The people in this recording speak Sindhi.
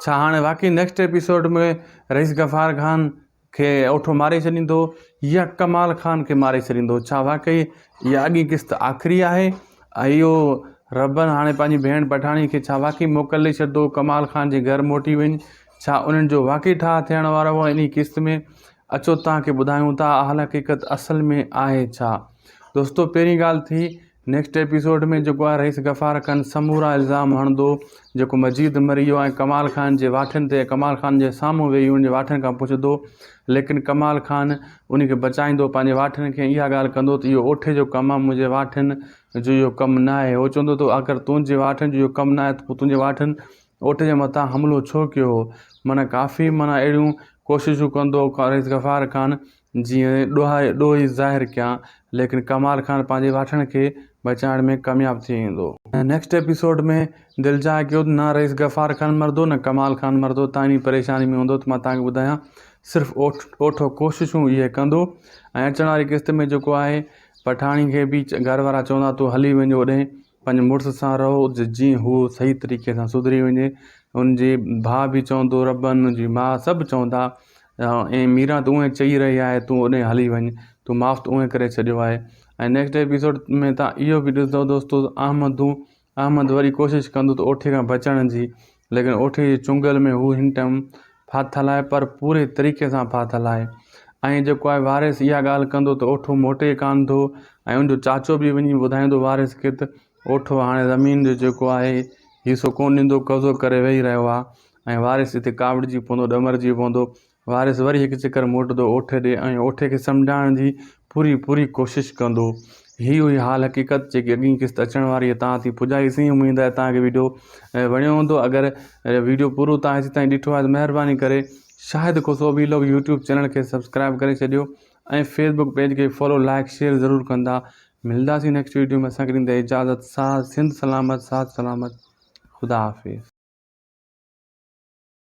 ڇا هاڻي واقعي نيڪسٽ ايپيسوڊ ۾ رئيس غفار خان کي اوٺو ماري ڇڏيندو يا ڪمال خان کي ماري ڇڏيندو ڇا واقعي اها اڳين قسط آخري آهي ۽ اهو ربن هاڻي پنهنجي ڀيڻ پٺاڻي کي ڇا واقعي موڪل ڏئي ڇڏيندو ڪمال خان جي گهر موٽي وڃ ڇا انهن جو واقعي ٺاهه ٿيڻ وارو هو انهي قسط ۾ اچو توهان کي ٻڌايون ٿا اهل حقيقت اصل ۾ آهي ڇا دوستو پهرين ڳالهه ٿي نيڪسٽ ايپيسوڊ ۾ جيڪو آهي رئيس غفار کن سمورا الزام هڻندو جيڪو مجيد مري ويو ۽ ڪمال خان جي واٺين تي ڪمال خان جي سامهون ويهي ان جي واٺين کان پڇندو ليڪن ڪمال خان ان کي بچائيندو پنهنجي واٺين کي اها ڳالهه ڪندو ته اهو اوٺي جو ڪم آهي منهنجي واٺين جو اهو ڪم ناهي هو چوندو ته اگر تنهنجي واٺين جو اهو ڪم ناهي ته پوء تنهنجي واٺين اوٺي جي مٿان حملو ڇو ڪيو هو معنيٰ ڪافي معنيٰ اهڙيون ڪوششون ڪندو رئيس غفار خان جيئن ڏوهائي ڏوهي ظاهر ڪيان ليڪن ڪمال خان پنهنجي واٺڻ کي بچائڻ ۾ ڪامياب ٿي ويندو. نيڪسٽ ايپيسوڊ ۾ دلجاء ڪيو ته نه رئيس غفار خان مردو نه ڪمال خان مردو تان ايڏي پريشاني ۾ هوندو ته مان تان کي ٻڌايان صرف اوٺو ڪوششون اهي ڪندو ۽ اچڻ واري قسط ۾ جيڪو آهي پٺاڻي کي به گهر وارا چوندا تو هلي وڃ اوڏهين پنهنجي مڙس سان رهو جيئن هوء صحيح طريقي سان سڌري وڃي. هن جي ڀاء به چوندو ربن، هن جي ماء سڀ چوندا اي ميران تون اونهي چئي رهي آهي تون اوڏهين هلي وڃ تون ماف ته اونهي ڪري ڇڏيو آهي ۽ نيڪسٽ ايپيسوڊ ۾ تان اهو به ڏسندو دوستو احمدون احمد وري ڪوشش ڪندو ته اوٺي کان بچڻ جي ليڪن اوٺي جي چنگل ۾ هو هن ٽئم ڦاٿل آهي پر پوري طريقي سان ڦاٿل آهي ۽ جيڪو آهي وارث اها ڳالهه ڪندو ته اوٺو موٽي ڪان ٿو ۽ ان جو چاچو به وڃي ٻڌائيندو وارث کي ته اوٺو هاڻي زمين جو جيڪو آهي حصو ڪون ڏيندو قبضو ڪري ويهي رهيو آهي ۽ وارث هتي ڪاوڙجي پوندو ڏمرجي پوندو وارث وري هڪ چڪر موٽندو اوٺي ڏي ۽ اوٺي کي سمجهائڻ جي پوري پوري ڪوشش ڪندو. هي هئي حال حقيقت جيڪي اڳين قسط اچڻ واري هئي توهان تائين پڄائي سين اميد آهي توهان کي ويڊيو وڻيو هوندو اگر ويڊيو پورو توهان هيسي تائين ڏٺو آهي ته مهرباني ڪري Shahid Khoso vlog YouTube channel کي سبسڪرائب ڪري ڇڏيو ۽ فيس بڪ پيج کي فالو لائڪ شيئر ضرور ڪندا ملداسين نيڪسٽ ويڊيو ۾ اسان کي ڏيندا اجازت ساٿ سنڌ سلامت ساٿ سلامت خدا حافظ